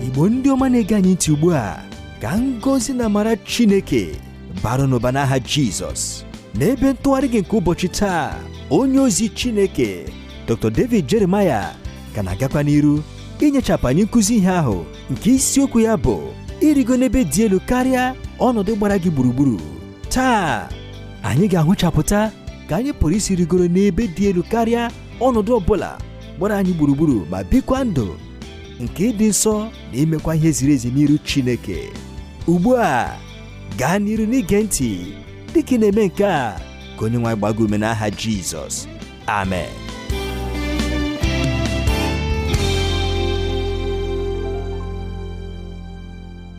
igbo ndị ọma na-ege anyị ntị ugbu a ka ngọzi na amara chineke bara unu ụba n'aha jizọs n'ebe ntụgharị gị nke ụbọchị taa onye ozi chineke dr david jeremiah ka na-agakwa n'iru inyechapụ anyị nkụzi ihe ahụ nke isiokwu ya bụ irigo n'ebe dị elu karịa ọnọdụ gbara gị gburugburu taa anyị ga-ahụchapụta ka anyị pụrụ isi rigoro n'ebe dị elu karịa ọnọdụ ọbụla gbara anyị gburugburu ma bikwa ndụ nke ịdị nsọ na imekwa ihe ziri ezi n'iru Chineke ugbu a gaa n'iru n'ige ntị dịka ị na-eme nke a ka onye nwe anyị gbaa gị ume n'aha Jizọs amen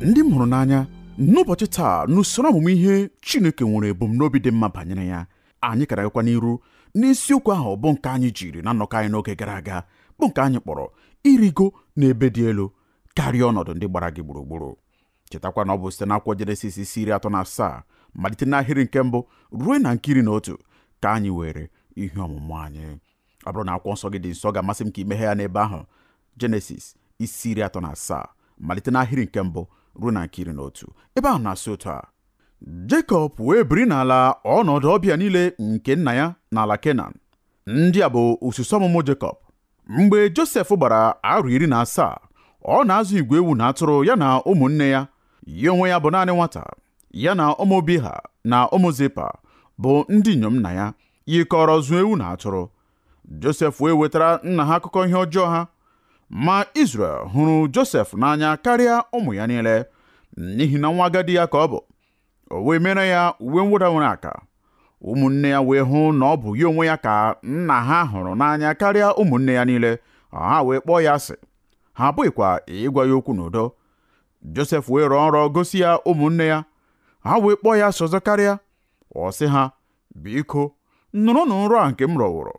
ndị m hụrụ n'anya n'ụbọchị taa n'usoro ọmụmụ ihe chineke nwere ebumnobi dị mma banyere ya anyị ka na-agakwa n'iru n'isiokwu ahụ bụ nke anyị jiri na nnọkọ anyị n'oge gara aga bụ nke anyị kpọrọ irigo n'ebe dị elu karịa ọnọdụ ndị gbara gị gburugburu chetakwa na ọ bụ site n'akwụkwọ jenesis isi iri atọ na asaa malite n'ahịrị nke mbụ ruo na nke iri na otu ka anyị were ihe ọmụmụ anyị ọ bụrụ na akwụkwọ nsọ gị dị nso ọ ga-amasị m ka i meghe ya n'ebe ahụ jenesis isi iri atọ na asaa malite n'ahịrị nke mbụ ruo na nke iri na otu ebe ahụ na-asị otu a Jekọb wee biri n'ala ọnọdụ ọbịa niile nke nna ya n'ala Kenan ndị a bụ osisi ọmụmụ Jekọb mgbe Josef gbara arọ iri na asaa ọ na-azụ igwe ewu na atụrụ ya na ụmụnne ya ya onwe ya bụ naanị nwata ya na ụmụ Biha na ụmụ Zipa bụ ndị inyom nna ya yikọrọ zụọ ewu na atụrụ Josef wee wetara nna ha akụkọ ihe ọjọọ ha ma Izrel hụrụ Josef n'anya karịa ụmụ ya niile n'ihi na nwa agadi ya ka ọ bụ o wee mere ya uwe mwụda nwere aka ụmụnne ya wee hụ na ọ bụ ya onwe ya ka nna ha hụrụ n'anya karịa ụmụnne ya niile ha wee kpọọ ya asị ha apụghịkwa ịgwa ya okwu n'udo Josef wee rọọ nrọ gosi ya ụmụnne ya ha wee kpọọ ya asị ọzọ karịa ọ sị ha biko nụrụnụ nrọ a nke m rọwụrụ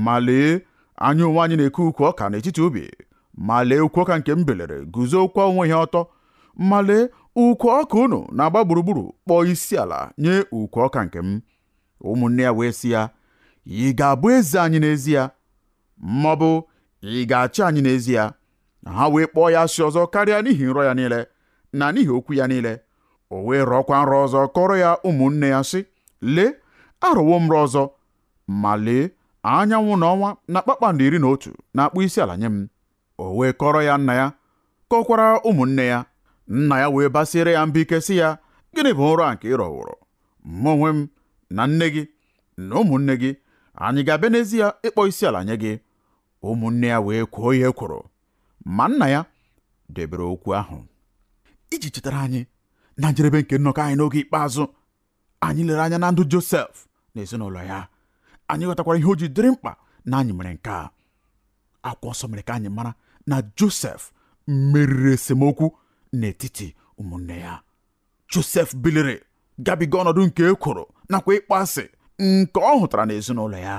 ma lee anyị onwe anyị na-eke ukwu ọka n'etiti ubi ma lee ukwu ọka nke m biliri guzokwa onwe ya ọtọ ma lee ukwu ọka unu na-agba gburugburu kpọọ isi ala nye ukwu ọka nke m ụmụnne ya wee sị ya ị ga-abụ eze anyị n'ezie ma ọ bụ ị ga-achị anyị n'ezie na ha wee kpọọ ya asị ọzọ karịa n'ihi nrọ ya niile na n'ihi okwu ya niile o wee rọọkwa nrọ ọzọ kọrọ ya ụmụnne ya sị lee arọwo m nrọ ọzọ ma lee anyanwụ na ọnwa na kpakpando iri na otu na-akpọ isi ala nye m o wee kọrọ ya nna ya kọkwara ụmụnne ya nna ya wee basiere ya mba ike sị ya gịnị bụ nrọ a nke ị rọworo mụ onwe m na nne gị na ụmụnne gị anyị ga-abịa n'ezie ịkpọ isi ala nye gị ụmụnne ya wee kwoo ya ekworo ma nna ya debere okwu ahụ iji chetara anyị na njedebe nke nnọkọ anyị n'oge ikpeazụ anyị lere anya na ndụ Josef na ezinụlọ ya anyị ghọtakwara ihe o ji dịrị mkpa na anyị mere nke a akwụkwọ nsọ mere ka anyị mara na Josef meriri esemokwu n'etiti ụmụnne ya Josef biliri gabiga ọnọdụ nke ekworo nakwa ịkpọ asị nke ọ hụtara n'ezinụlọ ya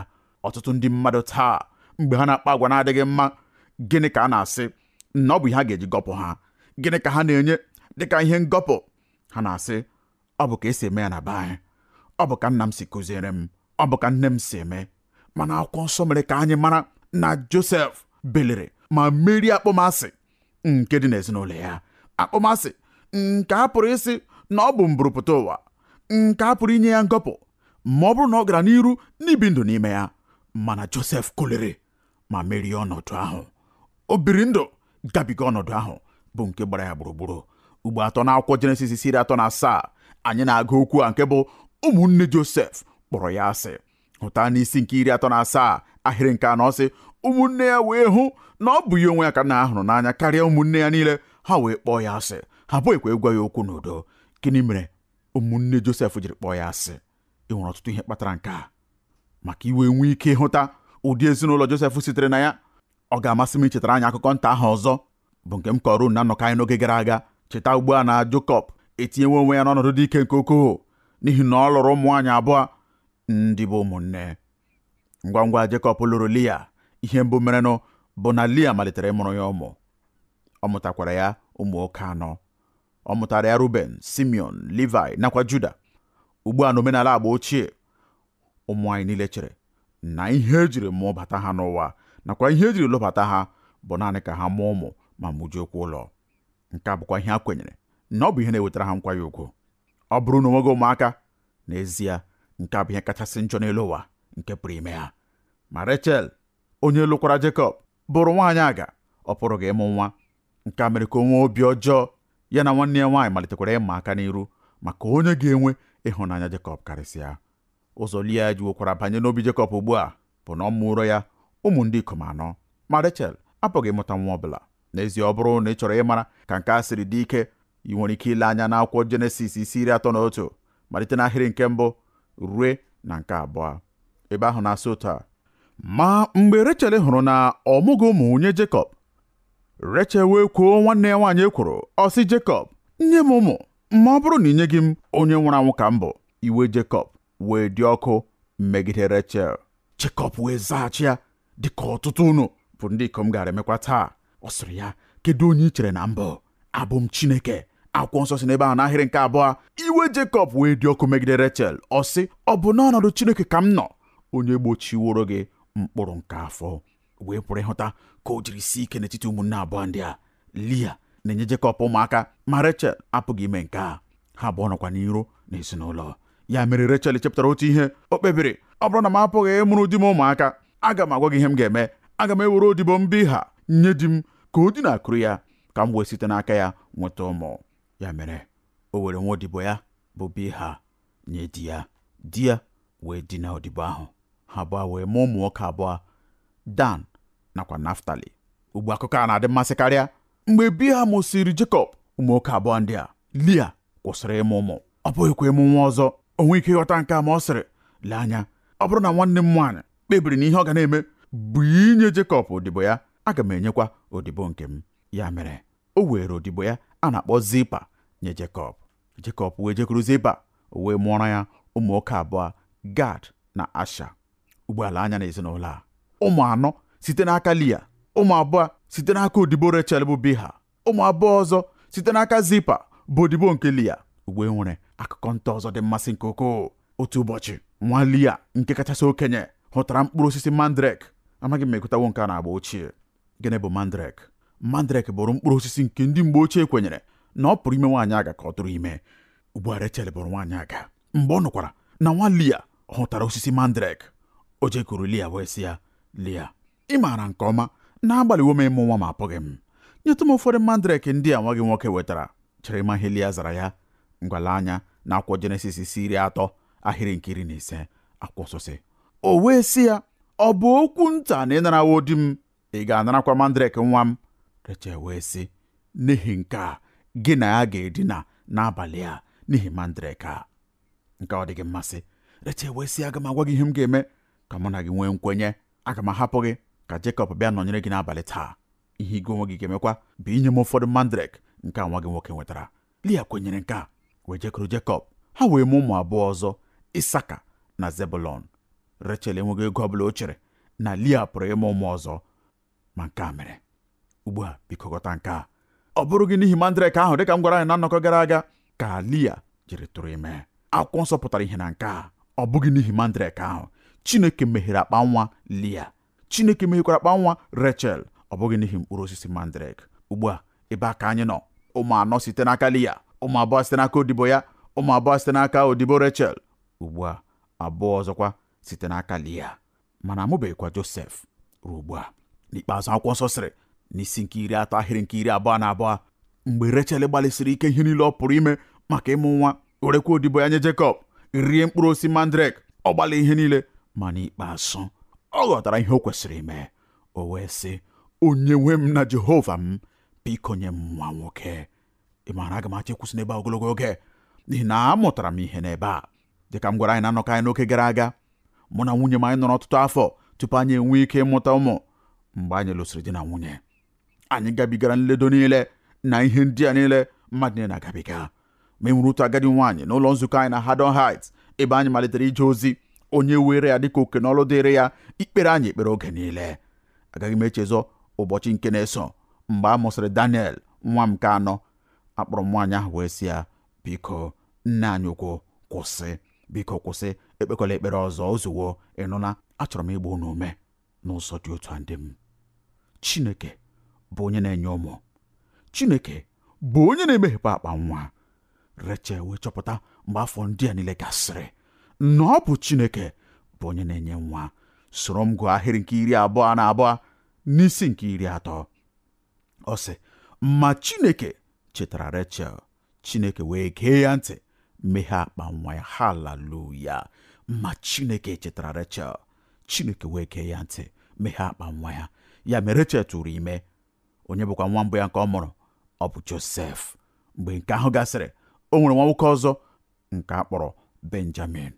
ọtụtụ ndị mmadụ taa mgbe ha na-akpa agwa na-adịghị mma gịnị ka a na-asị na ọ bụ ihe a ga-eji gọpụ ha gịnị ka ha na-enye dịka ihe ngọpụ ha na-asị ọ bụ ka esi eme ya na be anyị ọ bụ ka nna m si kụziere m ọ bụ ka nne m si eme mana akwụkwọ nsọ mere ka anyị mara na Josef biliri ma merie akpọmasị nke dị n'ezinụlọ ya akpọmasị nke a pụrụ ịsị na ọ bụ mburupụta ụwa nke a pụrụ inye ya ngọpụ ma ọ bụrụ na ọ gara n'iru n'ibi ndụ n'ime ya mana Josef kuliri ma merie ọnọdụ ahụ o biri ndụ gabiga ọnọdụ ahụ bụ nke gbara ya gburugburu ugbo atọ n'akwụkwọ Jenesis isi iri atọ na asaa anyị na-agụ okwu a nke bụ ụmụnne Josef kpọrọ ya asị hụta n'isi nke iri atọ na asaa ahịrị nke anọ sị ụmụnne ya wee hụ na ọ bụ ya onwe ya ka nna ha hụrụ n'anya karịa ụmụnne ya niile ha wee kpọọ ya asị ha apụghịkwa ịgwa ya okwu n'udo gịnị mere ụmụnne Josef jiri kpọọ ya asị e nwere ọtụtụ ihe kpatara nke a ma ka i wee nwee ike ịhụta ụdị ezinụlọ Josef sitere na ya ọ ga-amasị m ichetara anyị akụkọ nta ahụ ọzọ bụ nke m kọrọ na nnọkọ anyị n'oge gara aga cheta ugbu a na Jekọb etinyewo onwe ya n'ọnọdụ dị ike nke ukwuu n'ihi na ọ lụrụ ụmụ nwaanyị abụọ ndị bụ ụmụnne ngwa ngwa Jekọb lụrụ Lia ihe mbụ merenụ bụ na Lia malitere ịmụrụ ya ụmụ ọ mụtakwara ya ụmụ nwoke anọ ọ mụtara ya Ruben Simeon Levi nakwa Juda ugbu a n'omenala agba ochie ụmụ nwaanyị niile chere na ihe ejiri mụbata ha n'ụwa nakwa ihe ejiri lụbata ha bụ naanị ka ha mụọ ụmụ ma mụjuokwa ụlọ nke a bụkwa ihe a kwenyere na ọ bụ ihe na-ewetara ha nkwanye ugwu ọ bụrụ na o nweghị ụmụaka n'ezie nke a bụ ihe kachasị njọ n'elu ụwa nke pụrụ ime ha ma Rechel onye lụkwara Jekọb bụrụ nwaanyị aga ọ pụrụghị ịmụ nwa nke a mere ka o nwee obi ọjọọ ya na nwanne ya nwaanyị malitekwara ịma aka n'iru maka onye ga-enwe ịhụnanya Jekọb karịsịa ụzọ Lia jiwokwara banye n'obi Jekọb ugbu a bụ na ọ mụụrụ ya ụmụ ndị ikom anọ ma Rechel apụghị ịmụta nwa ọ bụla n'ezie ọ bụrụ na ị chọrọ ịmara ka nke a siri dị ike ị nwere ike ile anya n'akwụkwọ jenesis isi iri atọ na otu malite n'ahịrị nke mbụ rue na nke abụọ ebe ahụ na-asị otu a ma mgbe Rechel hụrụ na ọ mụghị ụmụ nye Jekọb Rechel wee kwoo nwanne ya nwaanyị ekworo ọ sị Jekọb nye m ụmụ ma ọ bụrụ na i nyeghị m onye nwụrụ anwụ ka m bụ iwe Jekọb wee dị ọkụ megide Rechel Jekọb wee zaghachi ya dị ka ọtụtụ unu bụ ndị ikom gara emekwa taa ọ sịrị ya kedu onye i chere na m bụ abụ m Chineke akwụkwọ nsọ sị n'ebe ahụ n'ahịrị nke abụọ iwe Jekọb wee dị ọkụ megide Rechel ọ sị ọ bụ n'ọnọdụ Chineke ka m nọ onye gbochiworo gị mkpụrụ nke afọ wee pụrụ ịhụta ka o jiri sie ike n'etiti ụmụnne abụọ ndị a Lia na-enye Jekọb ụmụaka ma Rechel apụghị ime nke a ha abụọ nọkwa n'iro n'ezinụlọ ya mere Rechel chepụtara otu ihe o kpebiri ọ bụrụ na m apụghị ịmụrụ di m ụmụaka aga m agwa gị ihe m ga-eme aga m ewere odibo m Bilha nye di m ka o dinakuru ya ka m wee site n'aka ya nweta ụmụ ya mere o were nwa odibo ya bụ Bilha nye di ya di ya wee dina odibo ahụ ha abụọ wee mụọ ụmụ nwoke abụọ Dan nakwa Naftali ugbu a akụkọ a na-adị mmasị karịa mgbe Bilha mụsịrị Jekọb ụmụ nwoke abụọ ndị a Lia kwụsịrị ịmụ ụmụ ọ pụghịkwa ịmụ nwa ọzọ o nweghị ike ịghọta nke a ma ọ sịrị lee anya ọ bụrụ na nwanne m nwaanyị kpebiri na ihe ọ ga na-eme bụ inye Jekọb odibo ya aga m enyekwa odibo nke m ya mere o were odibo ya a na-akpọ Zilpa nye Jekọb Jekọb wee jekuru Zilpa o wee mụọrọ ya ụmụ nwoke abụọ Gad na Asha ugbu a lee anya n'ezinụlọ a ụmụ anọ site n'aka Lia ụmụ abụọ site n'aka odibo Rechel bụ Bilha ụmụ abụọ ọzọ site n'aka zilpa bụ odibo nke lia ugbu a e nwere akụkọ nta ọzọ dị mmasị nke ukwuu otu ụbọchị nwa lia nke kachasị okenye hụtara mkpụrụ osisi mandrek amaghị m ma ị gụtawo nke a n'agba ochie gịnị bụ mandrek mandrek bụrụ mkpụrụ osisi nke ndị mgbe ochie kwenyere na ọ pụrụ ime nwaanyị aga ka ọ tụrụ ime ugbu a rechel bụrụ nwaanyị aga mgbe ọ nụkwara na nwa lia hụtara osisi mandrek o jekuru lia wee sị ya lia ị maara nke ọma na agbalịwo m ịmụ nwa ma apụghị m nyetụ m ụfọdụ mandrek ndị a nwa gị nwoke wetara chere ma ihe Lia zara ya ngwa lee anya n'akwụkwọ jenesis isi iri atọ ahịrị nke iri na ise akwụkwọ nsọ sị o wee sị ya ọ bụ okwu nta na ị narawo di m ị ga-anarakwa mandrek nwa m Rechel wee sị n'ihi nke a gị na ya ga-edina n'abalị a n'ihi mandrek a nke a ọ dịghị mmasị Rechel wee sị aga m agwa gị ihe m ga-eme ka mụ na gị nwee nkwenye aga m ahapụ gị ka Jekọb bịa nọnyere gị n'abalị taa ihe gị onwe gị ga-emekwa bụ inye m ụfọdụ mandrek nke nwa gị nwoke nwetara Lia kwenyere nke a wee jekuru Jekọb ha wee mụ ụmụ abụọ ọzọ Isaka na Zebulọn Rechel enweghị oge ọ bụla o chere na Lia pụrụ ịmụ ụmụ ọzọ ma nke a mere ugbu a biko ghọta nke a ọ bụrụghị n'ihi mandrek ahụ dịka m gwara anyị na nnọkọ gara aga ka Lia jiri tụrụ ime akwụkwọ nsọ pụtara ihe na nke a ọ bụghị n'ihi mandrek ahụ Chineke meghere akpa nwa Lia Chineke meghekwara akpa nwa Rechel ọ bụghị n'ihi mkpụrụ osisi mandrek ugbu a ebe a ka anyị nọ ụmụ anọ site n'aka Lia ụmụ abụọ site n'aka odibo ya ụmụ abụọ site n'aka odibo Rechel ugbu a abụọ ọzọkwa site n'aka Lia mana amụbeghịkwa Josef ruo ugbu a n'ikpeazụ akwụkwọ nsọ sịrị n'isi nke iri atọ ahịrị nke iri abụọ na abụọ mgbe Rechel gbalịsịrị ike ihe niile ọ pụrụ ime maka ịmụ nwa werekwa odibo ya nye Jekọb rie mkpụrụ osisi mandrek ọ gbalịrị ihe niile ma n'ikpeazụ ọ ghọtara ihe o kwesịrị ime o wee sị onye nwe m na Jehova m biko nye m nwa nwoke ị maara aga m achọ ịkwụsị n'ebe a ogologo oge n'ihi na amụtara m ihe n'ebe a dịka m gwara anyị na nnọkọ anyị n'oge gara aga mụ na nwunye m anyị nọrọ ọtụtụ afọ tupu anyị enwee ike ịmụta ụmụ mgbe anyị lụsịrị di na nwunye anyị gabigara nledo niile na ihe ndị a niile mmadụ niile na-agabiga ma e nwere otu agadi nwaanyị n'ụlọ nzukọ anyị na Haddon Heights ebe anyị malitere ije ozi onye were ya dịka oke n'ọlụ dịrị ya ikpere anyị ekpere oge niile agaghị m echezọ ụbọchị nke na-eso mgbe a mụsịrị Daniel nwa m nke anọ akpọrọ m nwaanyị ahụ wee sị ya biko nne anyị ukwu kwụsị biko kwụsị ekpekwala ekpere ọzọ o zuwo ị nụla achọrọ m ịgba unu ume n'ụzọ dị otu a ndị m Chineke bụ onye na-enye ụmụ Chineke bụ onye na-emeghepụ akpa nwa Rechel wee chọpụta mgbe afọ ndị a niile gasịrị na ọ bụ Chineke bụ onye na-enye nwa soro m gụọ ahịrị nke iri abụọ na abụọ n'isi nke iri atọ ọ sị ma chineke chetara rechel chineke wee gee ya ntị meghe akpa nwa ya haleluya ma chineke chetara rechel chineke wee gee ya ntị meghe akpa nwa ya ya mere rechel tụrụ ime onye bụkwa nwa mbụ ya nke ọ mụrụ ọ bụ josef mgbe nke ahụ gasịrị o nwere nwa nwoke ọzọ nke a kpọrọ benjamin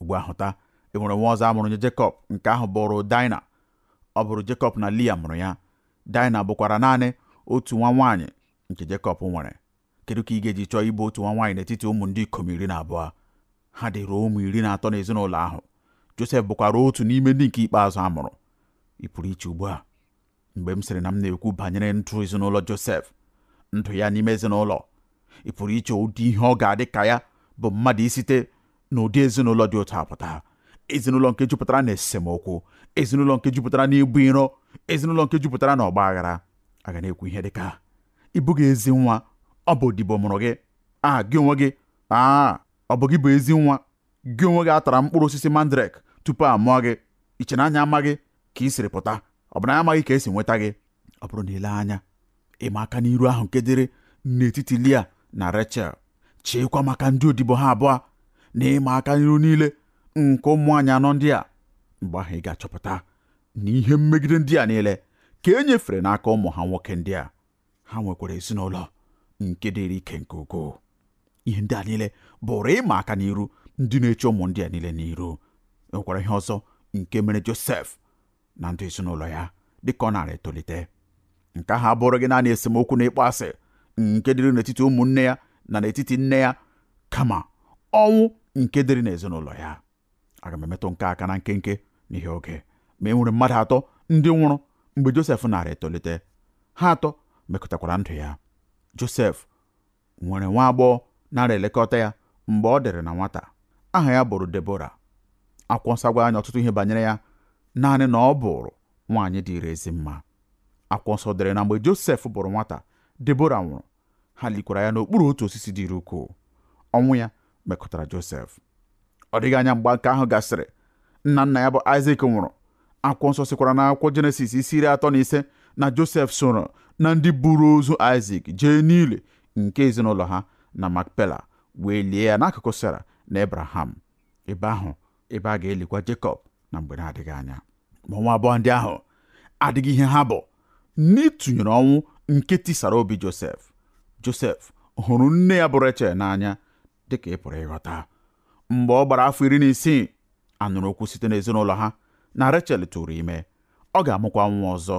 ugbu a hụta e nwere nwa ọzọ a mụrụ nye Jekọb nke ahụ bụrụ Dina ọ bụrụ Jekọb na Lia mụrụ ya Daịna bụkwara naanị otu nwa nwaanyị nke Jekọb nwere kedu ka ị ga-eji chọọ ịbụ otu nwa nwaanyị n'etiti ụmụ ndị ikom iri na abụọ ha dịrị ụmụ iri na atọ n'ezinụlọ ahụ Josef bụkwara otu n'ime ndị nke ikpeazụ a mụrụ ị pụrụ iche ugbu a mgbe m sịrị na m na-ekwu banyere ndụ ezinụlọ Josef ndụ ya n'ime ezinụlọ ị pụrụ iche ụdị ihe ọ ga-adị ka ya bụ mmadụ isite na ụdị ezinụlọ dị otu a pụta ezinụlọ nke jupụtara na esemokwu ezinụlọ nke jupụtara na ibu iro ezinụlọ nke jupụtara na ọgba aghara a ga na-ekwu ihe dịka ị bụghị ezi nwa ọ bụ odibo mụrụ gị a gị onwe gị aa ọ bụ gị bụ ezi nwa gị onwe gị atara mkpụrụ osisi mandrek tupu a mụọ gị i che na anyị amaghị ka ị siri pụta ọ bụ na anyị amaghị ka e si nweta gị ọ bụrụ na i lee anya ịma aka n'iru ahụ nke dịrị n'etiti Lia na Rechel cheekwa maka ndị odibo ha abụọ na ịma aka n'iru niile nke ụmụ nwaanyị anọ ndị a mgbe ahụ ị ga-achọpụta na ihe mmegide ndị a niile ka e nyefere n'aka ụmụ ha nwoke ndị a ha nwekwara ezinụlọ nke dịrị ike nke ukwuu ihe ndị a niile bụrụ ịma aka n'iru ndị na-eche ụmụ ndị a niile n'iru e nwekwara ihe ọzọ nke mere Josef na ndụ ezinụlọ ya dịka ọ nara etolite nke ahụ abụrụghị naanị esemokwu na ịkpọ asị nke dịrị n'etiti ụmụnne ya na n'etiti nne ya kama ọnwụ nke dịrị n'ezinụlọ ya aga m emetụ nke a aka na nkenke n'ihi oge ma e nwere mmadụ atọ ndị nwụrụ mgbe Josef nara etolite ha atọ mekụtakwara ndụ ya Josef nwere nwa agbọghọ nara elekọta ya mgbe ọ dịrị na nwata aha ya bụrụ Debora akwụkwọ nsọ agwaghị anyị ọtụtụ ihe banyere ya naanị na ọ bụrụ nwaanyị dịrị ezi mma akwụkwọ nsọ dere na mgbe Josef bụrụ nwata Debora nwụrụ ha likwara ya n'okpuru otu osisi dịrị ukwuu ọnwụ ya mekụtara Josef ọ dịghị anya mgbe nke ahụ gasịrị nna nna ya bụ Aịzik nwụrụ akwụkwọ nsọ sikwara na akwụkwọ Jenesis isi iri atọ na ise na Josef soro na ndị buru ozu Aịzik jee n'ili nke ezinụlọ ha na Makpela wee lie ya n'akụkụ Sera na Ebraham ebe ahụ ebe a ga-elikwa Jekọb na mgbe na-adịghị anya ma ọnwụ abụọ ndị ahụ adịghị ihe ha bụ n'ịtụnyere ọnwụ nke tisara obi Josef Josef hụrụ nne ya bụ Rechel n'anya dịka ị pụrụ ịghọta mgbe ọ gbara afọ iri na isii a nụrụ okwu site n'ezinụlọ ha na Rechel tụrụ ime ọ ga-amụkwa nwa ọzọ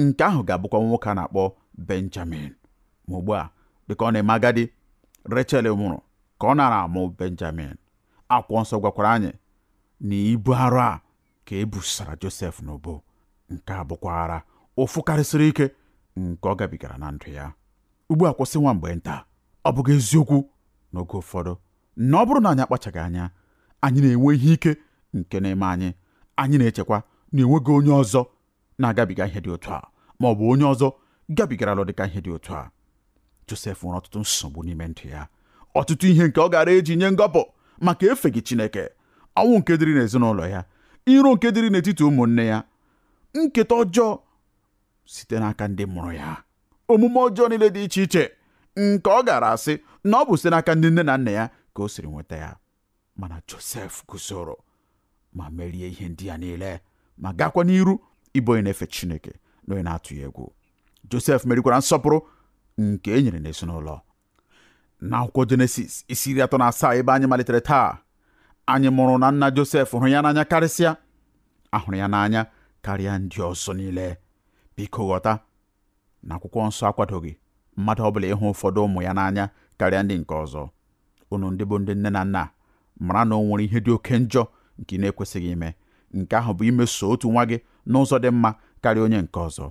nke ahụ ga-abụkwa nwoke a na-akpọ Benjamin ma ugbu a dịka ọ na-eme agadi Rechel nwụrụ ka ọ nara amụ Benjamin akwụkwọ nsọ gwakwara anyị na ibu arụ a ka e busara Josef n'ubu nke a bụkwa arụ ụfụ karịsịrị ike nke ọ gabigara na ndụ ya ugbu a kwụsị nwa mgbe nta ọ bụghị eziokwu n'oge ụfọdụ na ọ bụrụ na anyị akpachaghị anya anyị na-enwe ihe ike nke na-eme anyị anyị na-echekwa na enweghị onye ọzọ na-agabiga ihe dị otu a ma ọ bụ onye ọzọ gabigarala dịka ihe dị otu a Josef nwere ọtụtụ nsogbu n'ime ndụ ya ọtụtụ ihe nke ọ gara eji nye ngọpụ maka efeghị Chineke ọnwụ nke dịrị n'ezinụlọ ya iro nke dịrị n'etiti ụmụnne ya nketa ọjọọ site n'aka ndị mụrụ ya omume ọjọọ niile dị iche iche nke ọ gara asị na ọ bụ site n'aka ndị nne na nna ya ka o siri nweta ya mana josef guzoro ma merie ihe ndị a niile ma gakwa n'iru ịbụ onye na-efe chineke na onye na-atụ ya egwu josef merikwara nsọpụrụ nke e nyere n'ezinụlọ n'akwụkwọ jenesis isi iri atọ na asaa ebe anyị malitere taa anyị mụrụ na nna josef hụrụ ya n'anya karịsịa a hụrụ ya n'anya karịa ndị ọzọ niile biko ghọta na akwụkwọ nsọ akwadoghị mmadụ ọbụla ịhụ ụfọdụ ụmụ ya n'anya karịa ndị nke ọzọ unu ndị bụ ndị nne na nna mara na o nwere ihe dị oke njọ nke ị na-ekwesịghị ime nke ahụ bụ imeso otu nwa gị n'ụzọ dị mma karịa onye nke ọzọ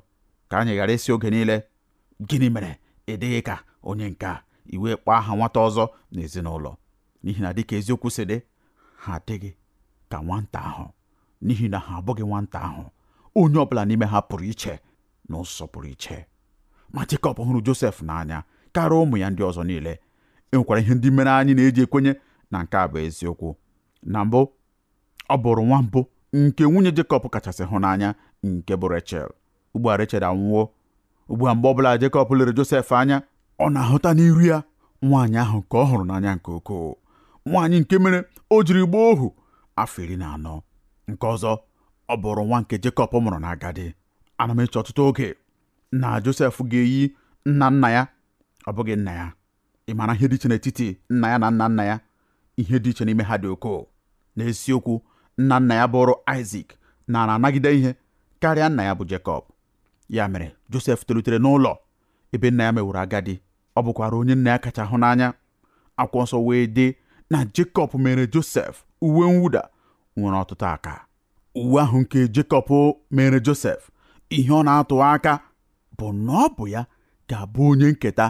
ka anyị ghara ịsị oge niile gịnị mere ị dịghị ka onye nke a ị wee kpọọ aha nwata ọzọ n'ezinụlọ n'ihi na dịka eziokwu si dị ha adịghị ka nwata ahụ n'ihi na ha abụghị nwata ahụ onye ọ bụla n'ime ha pụrụ iche n'ụzọ pụrụ iche ma Jekọb hụrụ Josef n'anya karịa ụmụ ya ndị ọzọ niile e nwekwara ihe ndị mere anyị na-eji ekwenye na nke a bụ eziokwu na mbụ ọ bụrụ nwa mbụ nke nwunye Jekọb kachasị hụ n'anya nke bụ Rechel ugbu a Rechel anwụwo ugbu a mgbe ọbụla Jekọb lere Josef anya ọ na-ahụta n'iru ya nwaanyị ahụ nke ọ hụrụ n'anya nke ukwuu nwaanyị nke mere o jiri gbaa ohu afọ iri na anọ nke ọzọ ọ bụụrụ nwa nke Jekọb mụrụ n'agadi ana m eche ọtụtụ oge na Josef ga-eyi nna nna ya ọ bụghị nna ya ị maara ihe dị iche n'etiti nna ya na nna nna ya ihe dị iche n'ime ha dị ukwuu n'eziokwu nna nna ya bụụrụ Aịzik naara anagide ihe karịa nna ya bụ Jekọb ya mere Josef tolitere n'ụlọ ebe nna ya meworo agadi ọ bụkwara onye nna ya kacha hụ n'anya akwụkwọ nsọ wee sị na Jekọb meere Josef uwe mwụda nwere ọtụtụ aka uwe ahụ nke Jekọb meere Josef ihe ọ na-atụ aka bụ na ọ bụ ya ga-abụ onye nketa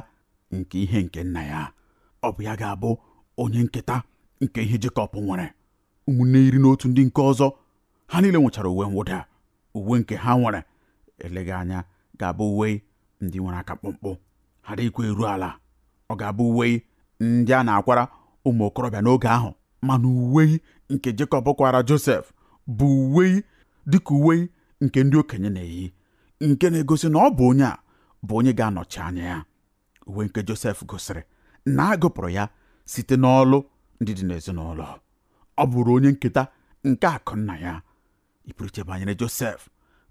nke ihe nke nna ya ọ bụ ya ga-abụ onye nketa nke ihe Jekọb nwere ụmụnne iri na otu ndị nke ọzọ ha niile nwechara uwe mwụda uwe nke ha nwere eleghị anya ga-abụ uwe ndị nwere aka mkpụmkpụ ha adịghịkwa eru ala ọ ga-abụ uwe ndị a na-akwara ụmụ okorobịa n'oge ahụ mana uwe nke Jekọb kwaara Josef bụ uwe dịka uwe nke ndị okenye na-eyi nke na-egosi na ọ bụ onye a bụ onye ga-anọchi anya ya uwe nke Josef gosiri na a gụpụrụ ya site n'ọlụ ndị dị n'ezinụlọ ọ bụụrụ onye nketa nke akụ nna ya ị pụrụ iche banyere Josef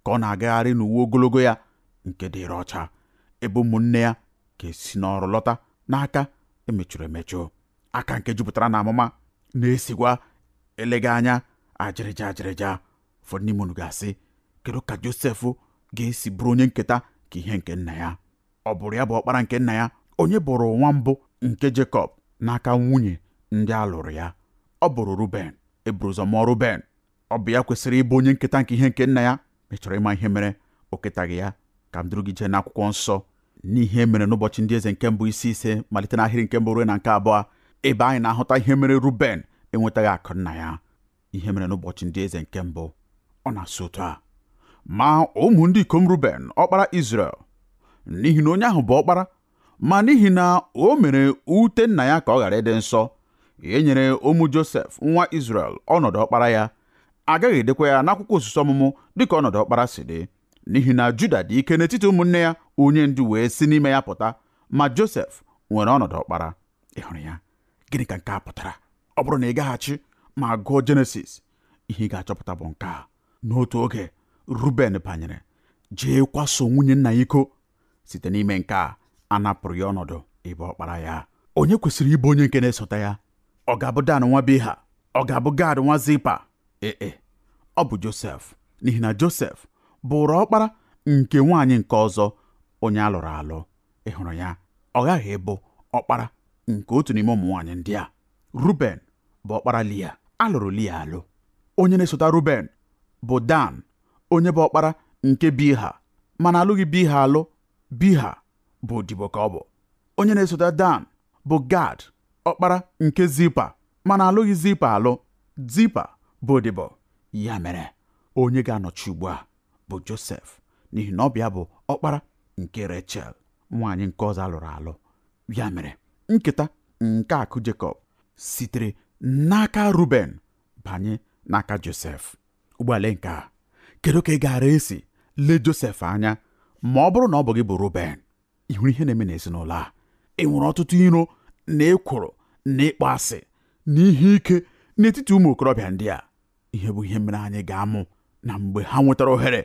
ka ọ na-agagharị n'uwe ogologo ya nke dịrị ọcha ebe ụmụnne ya ga-esi n'ọrụ lọta n'aka e mechuru emechu aka nke jupụtara n'amuma na-esikwa eleghị anya ajịrịja ajịrịja ụfọdụ n'ime unu ga-asị kedu ka Josef ga-esi bụrụ onye nketa ka ihe nke nna ya ọ bụrụ ya bụ ọkpara nke nna ya onye bụrụ nwa mbụ nke Jekọb n'aka nwunye ndị a lụrụ ya ọ bụrụ Ruben e buru ụzọ mụọ Ruben ọ bụ ya kwesịrị ịbụ onye nketa nke ihe nke nna ya ma ị chọrọ ịma ihe mere o ketaghị ya ka m duru gị jee n'akwụkwọ nsọ n'ihe mere n'ụbọchị ndị eze nke mbụ isi ise malite n'ahịrị nke mbụ ruo na nke abụọ ebe anyị na-ahụta ihe mere Ruben enwetaghị akụ nna ya ihe mere n'ụbọchị ndị eze nke mbụ ọ na-asụ otu a ma ụmụ ndị ikom ruben ọkpara Izrel n'ihi na onye ahụ bụ ọkpara ma n'ihi na o mere ute nna ya ka ọ ghara ịdị nsọ e nyere ụmụ josef nwa Izrel ọnọdụ ọkpara ya a gaghị edekwa ya n'akwụkwọ usoro ọmụmụ dịka ọnọdụ ọkpara si dị n'ihi na juda dị ike n'etiti ụmụnne ya onye ndu wee si n'ime ya pụta ma josef nwere ọnọdụ ọkpara ị hụrụ ya gịnị ka nke a pụtara ọ bụrụ na ị gaghachi ma gụọ jenesis ihe ị ga-achọpụta bụ nke a n'otu oge ruben banyere jee kwaso nwunye nna ya iko site n'ime nke a a napụrụ ya ọnọdụ ịbụ ọkpara ya onye kwesịrị ịbụ onye nke na-esota ya ọ ga-abụ dan nwa biha ọ ga-abụ gad nwa zipa ee e, ọ bụ josef n'ihi na josef bụrụ ọkpara nke nwaanyị nke ọzọ onye a lụrụ alụ ị hụrụ ya ọ ghaghị ịbụ ọkpara nke otu n'ime ụmụ nwaanyị ndị a ruben bụ ọkpara lia a lụrụ lia alụ onye na-esota ruben bụ dan onye bụ ọkpara nke biha mana a lụghị biha alụ biha bụ odibo ka ọ bụ onye na-esota dan bụ gad ọkpara nke zipa mana a lụghị zipa alụ zipa bụ odibo ya mere onye ga-anọchi ugbu a bụ Josef n'ihi na ọ bụ ya bụ ọkpara nke Rechel nwaanyị nke ọzọ a lụrụ alụ ya mere nketa nke akụ Jekọb sitere n'aka Ruben banye n'aka Josef ugbu a lee nke a kedu ka ị gaara esi lee Josef anya ma ọ bụrụ na ọ bụ gị bụ Ruben ị hụrụ ihe na-eme n'ezinụlọ a ị nwere ọtụtụ iro na ekworo na ịkpọ asị na ihe ike n'etiti ụmụ okorobịa ndị a ihe bụ ihe mere anyị ga-amụ na mgbe ha nwetara ohere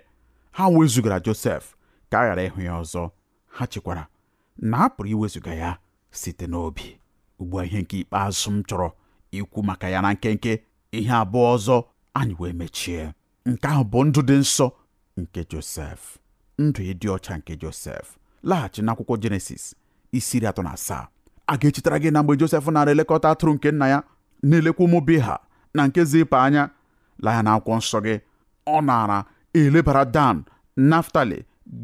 ha wezugara Josef ka a ghara ịhụ ya ọzọ ha chekwara na a pụrụ iwezuga ya site n'obi ugbu a ihe nke ikpeazụ m chọrọ ikwu maka ya na nkenke ihe abụọ ọzọ anyị wee mechie nke ahụ bụ ndụ dị nsọ nke Josef ndụ ịdị ọcha nke Josef laghachi n'akwụkwọ Jenesis isi iri atọ na asaa a ga-echetara gị na mgbe Josef naara elekọta atụrụ nke nna ya na-elekwa ụmụ Biha na nke Zipa anya lee ya n'akwụkwọ nsọ gị ọ naara elebara Dan Naftali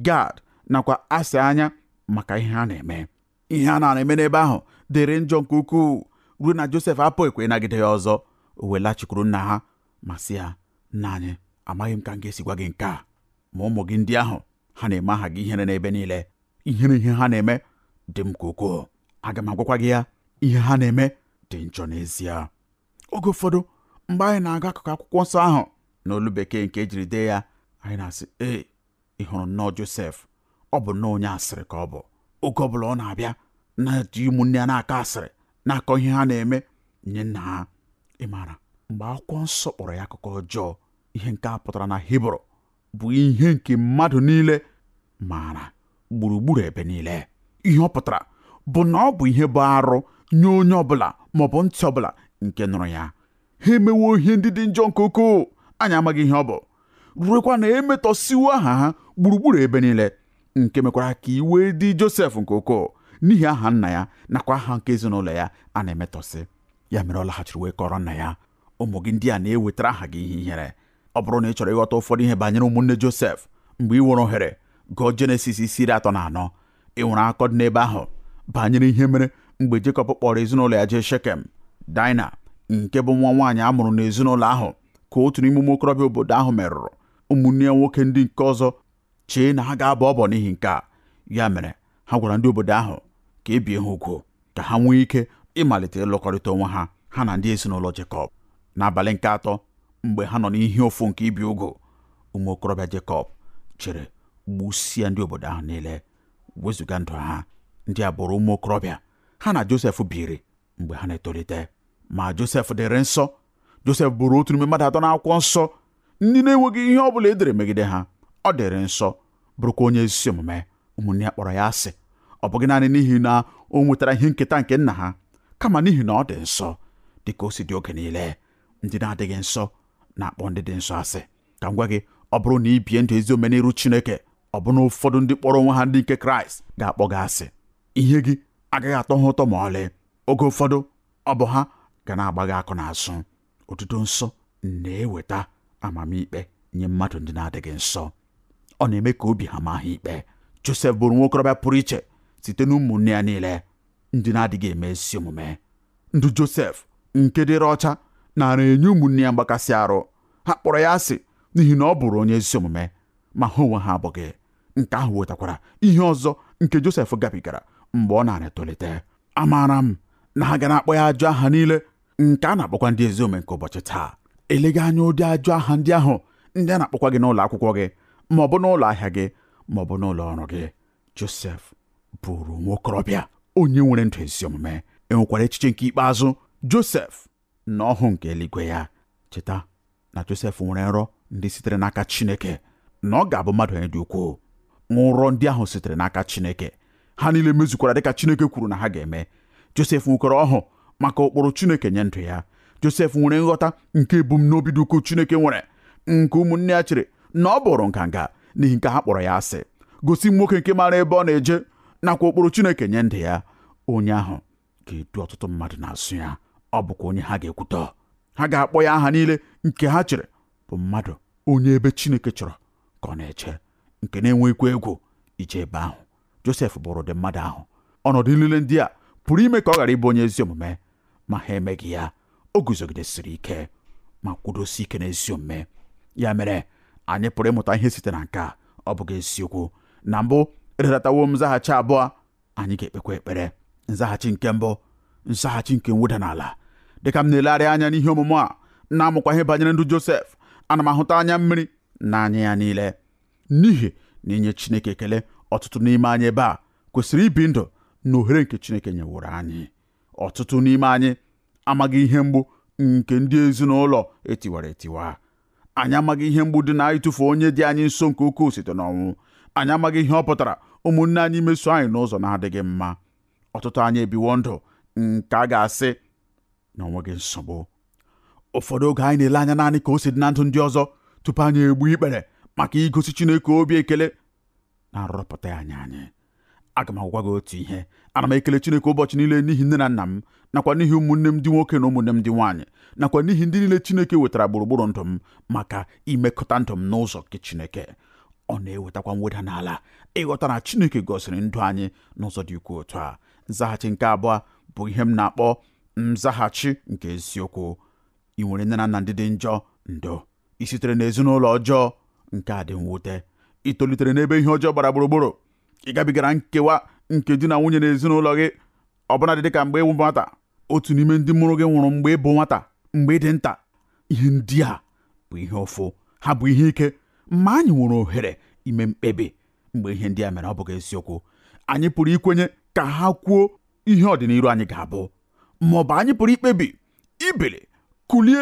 Gad nakwa Asha anya maka ihe ha na-eme ihe a na-eme n'ebe ahụ dịrị njọ nke ukwuu ruo na Josef apụghịkwa ịnagide ya ọzọ o wee lachikwuru nna ha ma sị ya nna anyị amaghị m ka m ga-esi gwa gị nke a ma ụmụ gị ndị ahụ ha na-eme aha gị ihere n'ebe niile ihere ihe ha na-eme dị m ka ukwuu aga m agwakwa gị ya ihe ha na-eme dị njọ n'ezie oge ụfọdụ mgbe anyị na-agụ akụkụ akwụkwọ nsọ ahụ n'olu bekee nke e jiri dee ya anyị na-asị ee ị hụrụ nnọọ Josef ọ bụ nnọọ onye asịrị ka ọ bụ oge ọ bụla ọ na-abịa na-eji ụmụnne ya na-akọ asịrị na-akọ ihe ha na-eme nye nna ha ị maara mgbe akwụkwọ nsọ kpọrọ ya akụkọ ọjọọ ihe nke a pụtara na Hibru bụ ihe nke mmadụ niile maara gburugburu ebe niile ihe ọ pụtara bụ na ọ bụ ihe bụ arụ nye onye ọbụla maọbụ ntị ọbụla nke nụrụ ya ha emewo ihe ndị dị njọ nke ukwuu anyị amaghị ihe ọ bụ ruekwa na e metọsịwo aha ha gburugburu ebe niile nke mekwara ka iwe dị Josef nke ukwuu n'ihi aha nna ya nakwa aha nke ezinụlọ ya a na-emetọsị ya mere ọ laghachiri wee kọrọ nna ya ụmụ gị ndị a na-ewetara aha gị ihe ihere ọ bụrụ na ị chọrọ ịghọta ụfọdụ ihe banyere ụmụnne Josef mgbe i nwere ohere gụọ Jenesis isi iri atọ na anọ ị nwere akọ dị n'ebe ahụ banyere ihe mere mgbe Jekọb kpọrọ ezinụlọ ya jee Shekem Daịna nke bụ nwa nwaanyị a mụrụ n'ezinụlọ ahụ ka otu n'ime ụmụ okorobịa obodo ahụ merụrụ ụmụnne ya nwoke ndị nke ọzọ chee na ha ga-abọ ọbọ n'ihi nke a ya mere ha gwara ndị obodo ahụ ka e bie ha ugwu ka ha nwee ike ịmalite ịlụkọrịta onwe ha ha na ndị ezinụlọ Jekọb n'abalị nke atọ mgbe ha nọ n'ihe ụfụ nke ibi ugwu ụmụ okorobịa Jekọb jere gbusia ndị obodo ahụ niile wezụga ndụ ha ndị a bụrụ ụmụ okorobịa ha na Josef biri mgbe ha na-etolite ma Josef dịrị nsọ Josef bụrụ otu n'ime mmadụ atọ n'akwụkwọ nsọ ndị na-enweghị ihe ọ bụla e dere megide ha ọ dịrị nsọ bụrụkwa onye ezi omume ụmụnne ya kpọrọ ya asị ọ bụghị naanị n'ihi na o nwetara ihe nketa nke nna ha kama n'ihi na ọ dị nsọ dị ka o si dị oge niile ndị na-adịghị nsọ na-akpọ ndị dị nsọ asị ka m gwa gị ọ bụrụ na i bie ndụ ezi omume n'iru Chineke ọbụna ụfọdụ ndị kpọrọ onwe ha ndị nke Kraịst ga-akpọ gị asị ihe gị agaghị atọ ha ụtọ ma ọlị oge ụfọdụ ọ bụ ha ga na-agba gị akụ n'azụ ọdịdị nsọ na-eweta amamikpe nye mmadụ ndị na-adịghị nsọ ọ na-eme ka obi ha maa ha ikpe Josef bụrụ nwokorobịa pụrụ iche site n'ụmụnne ya niile ndị na-adịghị eme ezi omume ndụ Josef nke dịrị ọcha nara enye ụmụnne ya mgbakasị arụ ha kpọrọ ya asị n'ihi na ọ bụrụ onye ezi omume ma ha onwe ha abụghị nke ahụ wetakwara ihe ọzọ nke Josef gabigara mgbe ọ na-etolite amaara m na ha ga na-akpọ ya ajọ aha niile nke a na-akpọkwa ndị ezi omume nke ụbọchị taa eleghị anya ụdị ajọ aha ndị ahụ ndị a na-akpọkwa gị n'ụlọ akwụkwọ gị ma ọ bụ n'ụlọ ahịa gị ma ọ bụ n'ụlọ ọrụ gị Josef bụrụ nwa okorobịa onye nwere ndụ ezi omume e nwekwara echiche nke ikpeazụ Josef na ọhụụ nke eluigwe ya cheta na Josef nwere nrọ ndị sitere n'aka Chineke na ọ ga-abụ mmadụ onye dị ukwuu nrọ ndị ahụ sitere n'aka Chineke ha niile mezukwara dịka Chineke kwuru na ha ga-eme Josef nwekwara ọhụụ maka ụkpụrụ Chineke nye ndụ ya Josef nwere nghọta nke ebumnobi dị ukwuu Chineke nwere nke ụmụnne ya chere na ọ bụrụ nganga n'ihi nke ha kpọrọ ya asị gosi m nwoke nke maara ebe ọ na-eje nakwa ụkpụrụ Chineke nye ndụ ya onye ahụ ga-edu ọtụtụ mmadụ n'azụ ya ọ bụkwa onye ha ga-ekwutọ ha ga-akpọ ya aha niile nke ha chere bụ mmadụ onye ebe Chineke chọrọ ka ọ na-eje nke na-enweghịkwa egwu ije ebe ahụ Josef bụrụ ụdị mmadụ ahụ ọnọdụ niile ndị a pụrụ ime ka ọ ghara ịbụ onye ezi omume ma ha emeghị ya o guzogidesiri ike ma kwudosi ike n'ezi omume ya mere anyị pụrụ ịmụta ihe site na nke a ọ bụghị eziokwu na mbụ edetawo m nzaghachi abụọ anyị ga-ekpekwa ekpere nzaghachi nke mbụ nzaghachi nke mweda n'ala dịka m na-elegharị anya n'ihe ọmụmụ a na-amụkwa ihe banyere ndụ Josef ana m ahụta anya mmiri na anya ya niile n'ihi na inye Chineke ekele ọtụtụ n'ime anyị ebe a kwesịrị ibi ndụ na ohere nke Chineke nyeworo anyị ọtụtụ n'ime anyị amaghị ihe mgbu nke ndị ezinụlọ etiwara etiwa anyị amaghị ihe mgbu dị na ịtụfu onye dị anyị nso nke ukwuu site n'ọnwụ anyị amaghị ihe ọ pụtara ụmụnne anyị meso anyị n'ụzọ na-adịghị mma ọtụtụ anyị ebiwo ndụ nke a ga-asị na o nweghị nsogbu ụfọdụ oge anyị na-ele anya naanị ka o si dị na ndụ ndị ọzọ tupu anyị egbu ikpere maka igosi Chineke obi ekele na-arụpụta anyị anyị aga m agwa gị otu ihe ana m ekele Chineke ụbọchị niile n'ihi nne na nna m nakwa n'ihi ụmụnne m ndị nwoke na ụmụnne m ndị nwaanyị nakwa n'ihi ndị niile Chineke wetara gburugburu ndụ m maka imekọta ndụ m n'ụzọ nke Chineke ọ na-ewetakwa mweda n'ala ịghọta na Chineke gọziri ndụ anyị n'ụzọ dị ukwuu otu a nzaghachi nke abụọ bụ ihe m na-akpọ nzaghachi nke eziokwu ị nwere nne na nna ndị dị njọ ndo i sitere n'ezinụlọ ọjọọ nke a dị mwute ị tolitere n'ebe ihe ọjọọ gbara gburugburu ị gabigara nkewa nke di na nwunye na ezinụlọ gị ọbụna dị ka mgbe ị bụ nwata otu n'ime ndị mụrụ gị nwụrụ mgbe ị bụ nwata mgbe ị dị nta ihe ndị a bụ ihe ụfụ ha bụ ihe ike ma anyị nwere ohere ime mkpebi mgbe ihe ndị a mere ọ bụghị eziokwu anyị pụrụ ikwenye ka ha kwuo ihe ọdịnihu anyị ga-abụ ma ọ bụ anyị pụrụ ikpebi ibili kulie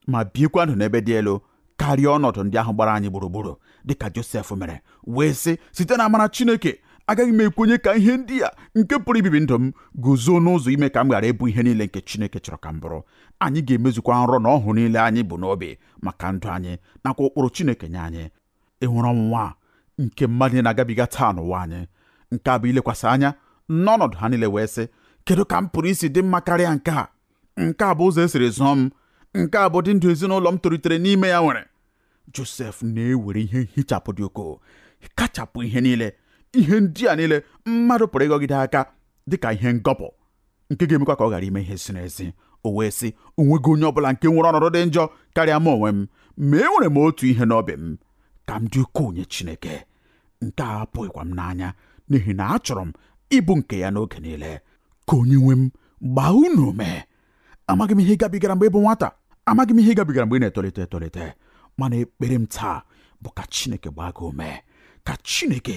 ma biekwa ndụ n'ebe dị elu karịa ọnọdụ ndị ahụ gbara anyị gburugburu dịka Josef mere wee sị site na amara Chineke agaghị m ekwenye ka ihe ndị a nke pụrụ ibibi ndụ m guzo n'ụzọ ime ka m ghara ịbụ ihe niile nke Chineke chọrọ ka m bụrụ anyị ga-emezukwa nrọ na ọhụụ niile anyị bu n'obi maka ndụ anyị nakwa ụkpụrụ Chineke nye anyị ị hụrụ ọnwụnwa a nke mmadụ na-agabiga taa n'ụwa anyị nke a bụ ilekwasị anya n'ọnọdụ ha niile wee sị kedu ka m pụrụ isi dị mma karịa nke a nke a bụ ụzọ e siri zụọ m nke a bụ ụdị ndụ ezinụlọ m tolitere n'ime ya nwere Josef na-ewere ihe nhichapụ dị ukwuu kachapụ ihe niile ihe ndị a niile mmadụ pụrụ ịgọgide aka dịka ihe ngọpụ nke ga-emekwa ka ọ ghara ime ihe ziri ezi o wee sị o nweghị onye ọbụla nke nwere ọnọdụ dị njọ karịa m onwe m ma enwere m otu ihe n'obi m ka m dị ukwuu nye Chineke nke a apụghịkwa m n'anya n'ihi na achọrọ m ịbụ nke ya n'oge niile ka onye nwe m gbaa unu ume amaghị m ihe ị gabigara mgbe ị bụ nwata amaghị m ihe ị gabigara mgbe ị na-etolite etolite mana ekpere m taa bụ ka Chineke gbaa gị ume ka Chineke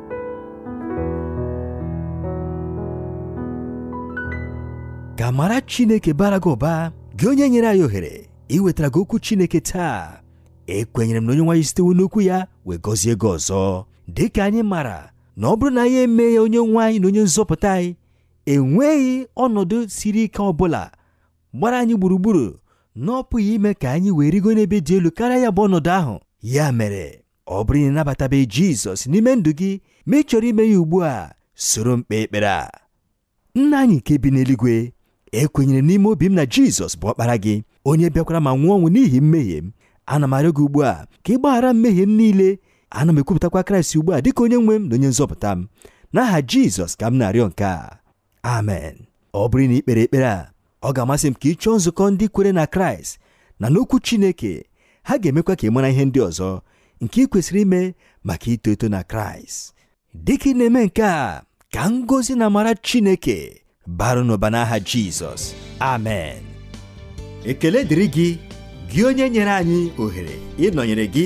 ka amara chineke baara gị ụba gị onye nyere anyị ohere iwetara gị okwu chineke taa ekwenyere m na onye nwe anyị sitewo n'okwu ya wee gọzie gị ọzọ dị ka anyị mara na ọ bụrụ na anyị emee ya onye nwe anyị na onye nzọpụta anyị enweghị ọnọdụ siri ike ọ bụla gbara anyị gburugburu na ọ pụghị ime ka anyị wee rigo n'ebe dị elu karịa ya bụ ọnọdụ ahụ ya mere ọ bụrụ na ị nabatabeghị jizọs n'ime ndụ gị ma ị chọrọ ime ya ugbu a soro m kpee ekpere a nna anyị nke bi n'eluigwe ekwenyere m n'ime obi m na jizọs bụ ọkpara gị onye bịakwara ma nwụọ ọnwụ n'ihi mmehie m ana m arịọ gị ugbu a ka ị gbaghara mmehie m niile ana m ekwupụtakwa kraịst ugbu a dịka onye nwe m na onye nzọpụta m n'aha jizọs ka m na-arịọ nke a amen ọ bụrụ na i kpere ekpere a ọ ga-amasị m ka ị chọọ nzukọ ndị kwere na kraịst na n'okwu chineke ha ga-emekwa ka ị mara ihe ndị ọzọ nke ị kwesịrị ime maka ito eto na kraịst dịka ị na-eme nke a ka ngọzi na amara chineke baara n'ụba n'aha jizọs amen ekele dịrị gị gị onye nyere anyị ohere ịnọnyere gị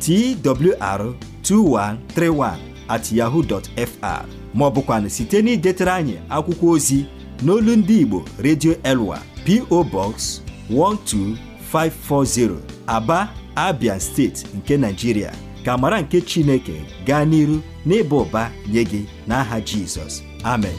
twr2131 at yahoo.fr ma ọ bụkwanụ site n'idetara anyị akwụkwọ ozi n'olu ndị Igbo Radio Elwa PO Box 12540 Aba Abia steeti nke Nigeria ka amara nke Chineke gaa n'iru n'ịba ụba nye gị n'aha Jizọs amen